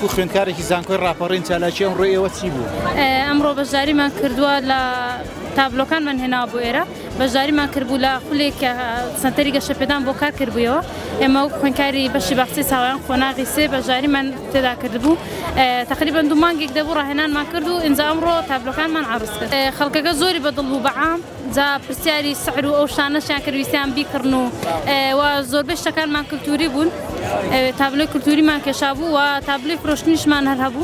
وەکو خوێندکارێکی زانکۆی ڕاپەڕین چالاکی ئەمڕۆ ئێوە چی بوو؟ ئەمڕۆ بەشداریمان کردووە لە تابلۆکانمان هێناوە بۆ ئێرە بەشداریمان کردبوو لە خولێک کە سەنتەری گەشەپێدان بۆ کار کردبوویەوە ئێمە وەک خوێندکاری بەشی باخچەی ساوایان قۆناغی سێ بەشداریمان تێدا کردبوو تەقریبەن دوو مانگێک دەبوو ڕاهێنانمان کرد و ئینجا ئەمڕۆ تابلۆکانمان عەڕز کرد خەڵکەکە زۆری بە دڵ بوو بە عام جا پرسیاری سعر و ئەو شتانەشیان کرد ویستیان بیکڕن و وە زۆربەی شتەکانمان کلتوری بوون تابلۆی کلتوریمان کێشابوو وە تابلۆی فرۆشتنیشمان هەر هەبوو.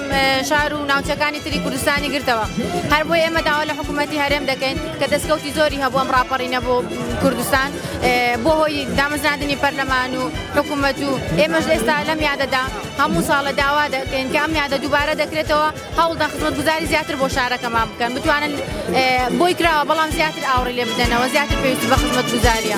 شار و ناوچەکانی تری کوردستانی گرتەوە هەر بۆی ئێمە داوا لە حکوومەتتی هەرێم دەکەین کە دەستکەوتی زۆری هەبووم ڕاپەڕینە بۆ کوردستان بۆ هۆی دامەزراندنی پەرلەمان و حکوومەت و ئێمەش ئێستا لەم یادەدا هەموو ساڵە داوا دەکەین کە ئەم یادە دووبارە دەکرێتەوە هەوڵدا خزمەت گوزاری زیاتر بۆ شارەکەمان بکەن بتوانن بۆی کراوە بەڵام زیاتر ئاوڕی لێ بدەنەوە زیاتر پێویست بە خزمەت گوزاریە.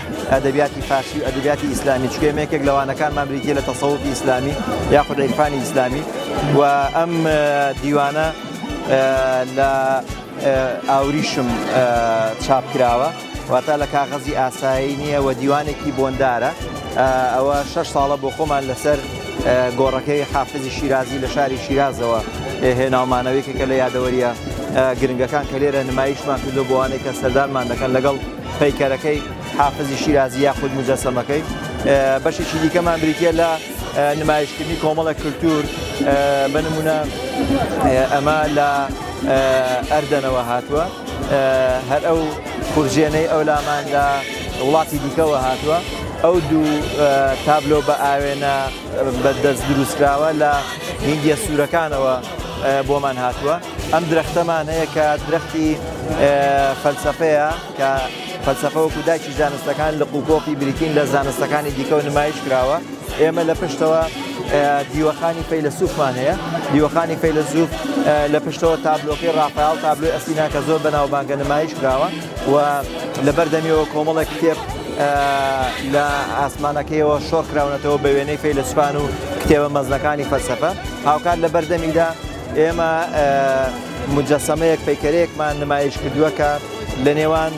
ئەدەبیاتی فارسی و ئەدەبیاتی ئیسلامی چکە ئێمە یەکێک لە وانەکانمان بریتیە لە تەسەوفی ئیسلامی یاخود عیرفانی ئیسلامی و ئەم دیوانە لە ئاوریشم چاپ کراوە واتا لە کاغەزی ئاسایی نییە و دیوانێکی بۆندارە ئەوە شش ساڵە بۆ خۆمان لەسەر گۆڕەکەی حافزی شیرازی لە شاری شیرازەوە هێناومانەوەی کە لە یادەوەریە گرنگەکان کە لێرە نمایشمان کردو بۆوانێک کە سەردانمان دەکەن لەگەڵ پەیکەرەکەی، حافزی شیرازی یاخود موجەسەمەکەی، بەشێکی دیکەمان بریتیە لە نمایشکردنی کۆمەڵێک کلتور بە نمونە ئەمە لە ئەردەنەوە هاتووە هەر ئەو خورجێنەی ئەو لامان لە وڵاتی دیکەوە هاتووە ئەو دوو تابلۆ بە ئاوێنە بە دەست دروستکراوە لە هندیە سوورەکانەوە بۆمان هاتووە. ئەم درەختەمان هەیە کە درەختی فەلسەفەیە کە فەلسەفە وەکو داکی زانستەکان لە قوپۆپی بریتین لە زانستەکانی دیکەەوە نمایش کراوە ئێمە لە پشتەوە دیوەخانی فەیلسوفمان هەیە دیوەخانی فەیلسوف لە پشتەوە تابلۆکەی ڕاپال تابلوی ئەسینا کە زۆر بەناوبانگە نمایش کراوە و لە بەردەمیەوە کۆمەڵە کتێب لە ئاسمانەکەیەوە شۆڕکراونەتەوە بە وێنەی فەیلسوفان و کتێبە مەزنەکانی فەلسەفە هاوکات لە بەردەمیدا ئێمە مجەسەمەیەک پەیکەرەیەکمان نمایش کردووە کە لە نێوان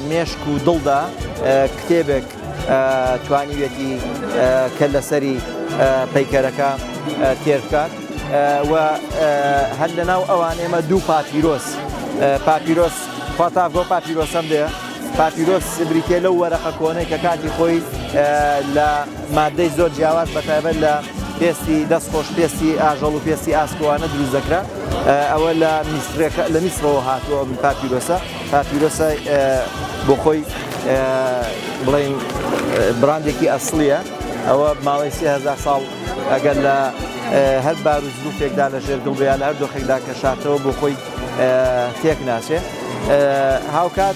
مێشک و دڵدا کتێبێک توانیوێتی کە لەسەری پەیکەرەکە تێرکات و هەر لە ناو ئەوان ئێمە دوو پاپیرۆس پاپیرۆس فاتاڤۆ پاپیرۆسم دێ پاپیرۆس بریتێ لەو وەرەقە کۆنەی کە کاتی خۆی لە ماددەی زۆر جیاواز بە تایبەت لە پێستی دەست خۆش پێستی ئاژەڵ و پێستی ئاسکوانە دروست دەکرا ئەوە لە میسرەکە لە میسرەوە هاتووە ئەم پاپیرۆسە پاپیرۆسە بۆ خۆی بڵین براندێکی ئەسلیە ئەوە ماوەی سهزار ساڵ ئەگەر لە هەر بار و زروفێکدا لە ژێر دڵبیان لە هەر دۆخێکدا کە شاتەوە بۆ خۆی تێک ناچێ هاوکات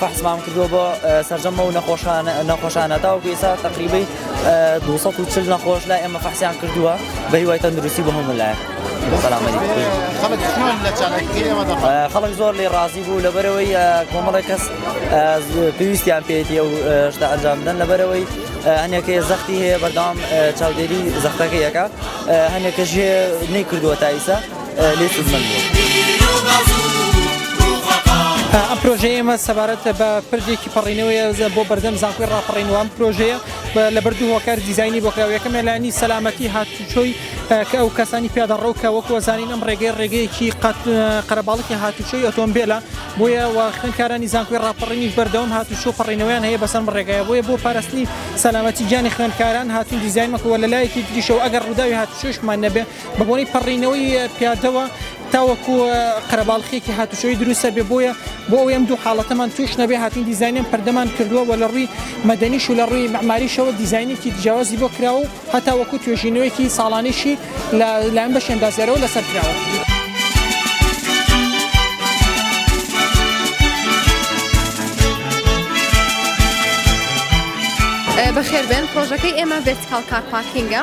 فەحسمان کردووە بۆ سەرجەم ئەو نەخۆشانە تاوەکو ئێستا تقریبی 240 نەخۆش لای ئێمە فەحسیان کردووە بە هیوای تەندروستی بە هەموو لایە خەڵک زۆر لێ ڕازی بوو لەبەرەوەی کۆمەڵی کەس پێویستیان پێێتی و شتا ئەنجام بدەن لەبەرەوەی هەنێکەیە زەختی هەیە بەردام چاودێری زەختەکەیەکە هەنێکەژێ نەی کردووە تایسە لێ سودمەند ئەم پرۆژەیە ئێمە سەبارەت بە پرجێکی پەڕینەوەی بۆ بەردەم زانکۆی ڕاپەڕینوان پرۆژەیە لە بەردوو هۆکار دیزایانی بۆکراوەکە مێلانی سەلامەتی هاتوچۆی کە ئەو کەسانی پیادەڕەو کە وەک وەزانین ئەم ڕێگەی ڕێگەیەکی قەرەباڵکی هاتوچۆی ئۆتۆمبیلە بۆیە خوێنکارانی زانکۆی ڕاپەڕینیش بەردەوم هاتوچۆ پەڕینەوەیان هەیە بەسەم ڕێگای بۆیە بۆ پاراستنی سەلامەتی گیانی خوێنکاران هاتون دیزای مەکەوە لە لایەکی تریشەوە ئەگەر ڕووداوی هاتوچۆشمان نەبێت بە بۆنەی پەڕینەوەی پیادەوە تاوەکو قەرەباڵخێکی هاتوچۆی دروستە بێ بۆیە بۆ ئەوەی ئەم دوو حاڵەتەمان توش نەبێ هاتین دیزانیان پردەمان کردووە و لە ڕووی مەدەنیش و لە ڕووی مەماریشەوە دیزانێکی جیاوازی بۆ کراوە و هەتا وەکو توێژینەوەیەکی ساڵانیشی لە لایەن بەشی ئەندازیارەوە لەسەر کراوە. بەخێربێن پرۆژەکەی ئێمە ڤێرتیکاڵ کار پارکینگە.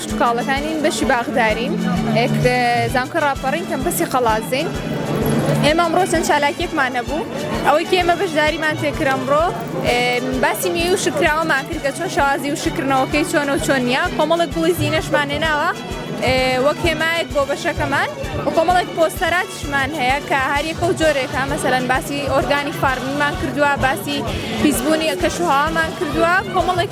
شتوکاڵەکانین بەشی باخدارین ئێک زانکۆ ڕاپەڕین کەمپەسی قەڵازین ئێمە ئەمڕۆ چەند چالاکیەکمان هەبوو ئەوەی کە ئێمە بەشداریمان تێکرا ئەمڕۆ باسی نوێی و شکراوەمان کرد کە چۆن شازی و شکردنەوەکەی چۆنە و چۆن نیە کۆمەڵک گوڵی زیینەشمان هێناوە وەک هێمایەک بۆ بەشەکەمان و کۆمەڵێک پۆستەراتشمان هەیە کە هەریەکە و جۆرێکە مەسەرەن باسی ئۆرگانی فارمیمان کردووە باسی پیسبوونی کەشوهامان کردووە کۆمەڵێک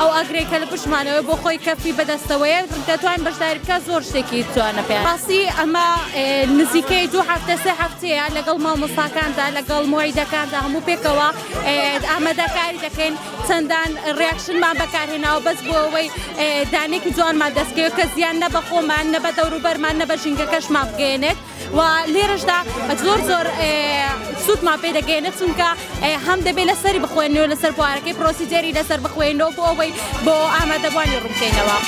ئەو ئاگرەی کە لە پشتمانەوەیە بۆ خۆی کەفی بەدەستەوەیە دەتوانین بەشداری بکە زۆر شتێکی جوانە پێ ڕاستی ئەمە نزیکەی دوو هەفتە سێ هەفتەیە لەگەڵ مامۆستاکاندا لەگەڵ مۆیدەکاندا هەموو پێکەوە ئامادەکاری دەکەین چەندان ڕیاکشنمان بەکارهێناوە بەس بۆ ئەوەی دانێکی جوانمان دەستکەوێت کە زیان نە بە خۆمان نە بە دەوروبەرمان نە بە ژینگەکەشمان بگەێنێت و لێرەشدا زۆر زۆر سوودمان پێ دەگەێنێت چونکە هەم دەبێت لەسەری بخوێنەوە لەسەر بوارەکەی پرۆسیجێری لەسەر بخوێنەوە بۆ ئەوەی بۆ ئامادەبووانی ڕوونکەینەوە.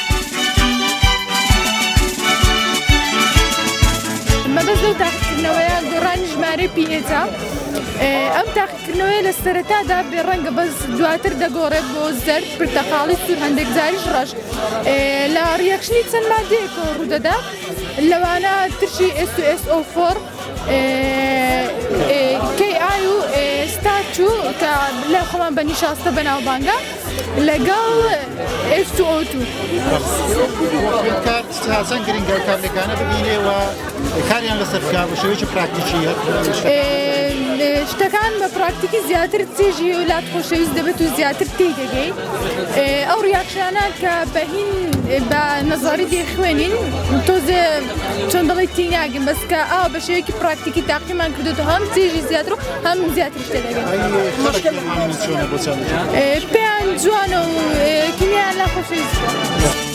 مەبەست لەو تاقیکردنەوەیە گۆڕانی ژمارەی پیئێجە ئەم تاقیکردنەوەی لە سەرەتادا بێ ڕەنگە بەس دواتر دەگۆڕێت بۆ زەرد پرتەقاڵی سوور هەندێک زاریش ڕەش لە ڕیەکشنی چەند مادەیەکەوە ڕوودەدات. لەوانە ترشی SOSO فۆڕ کەی ئای و ستاچوو کە لە خۆمان بە نیشاستە بەناوبانگە لەگەڵ ئێستوتو تازەن گرنگە و کارلەکانە ببینێەوە کاریان لەسەر بکە بە شێوەی پراکتیکی شتەکان بە پراکتیکی زیاتر تێژی و لات خۆشەویست دەبێت و زیاتر تێی دەگەیت. ئەو ڕیاکشانە کە بەهین بە نەزاری دێخوێنین تۆزێ چۆن دەڵی تی ناگەن بەس کە ئا بە شێوەیەکی پراکتیکی تاقیمان کردو هەم تێژی زیاتر و هەم زیاتر شتێ دەگەن پێیان جوانە و کیمیان لە خۆشویست.